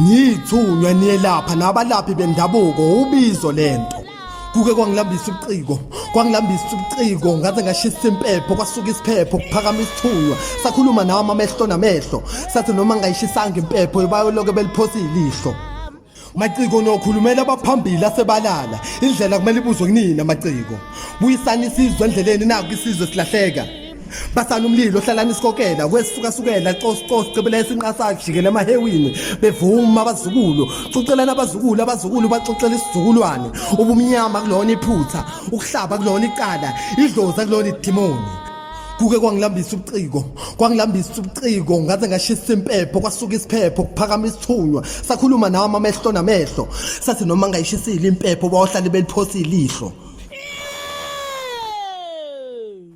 Ngithunywa niyelapha nabalaphi bendabuko ubizo lento. Kuke kwangilambisa ubuciko, kwangilambisa ubuciko ngaze ngashisa impepho kwasuka isiphepho kuphakama isithunywa. Sakhuluma nawe amamehlo namehlo. Sathi noma ngayishisanga impepho ibayoloke beliphosa ilihlo. Maciko nokhulumela abaphambili asebalala. Indlela kumele ibuzwe kunina maciko. Buyisani isizwe endleleni naku isizwe silahleka. basana umlilo hlalani isikokela kwesifukasukela cosicos cebela esinqasa kujikela emahewini bevuma abazukulu cucelana abazukulu abazukulu baxoxela isizukulwane ubumnyama kulona iphutha ukuhlaba kulona icala idlozi akulona idimoni kuke kwangilambisa ubuciko kwangilambisa ubuciko ngaze ngashisa impepho kwasuka isiphepho kuphakama isithunywa sakhuluma nawo amamehlo namehlo sathi noma ngayishisile impepho bawohlale beliphosile ihlo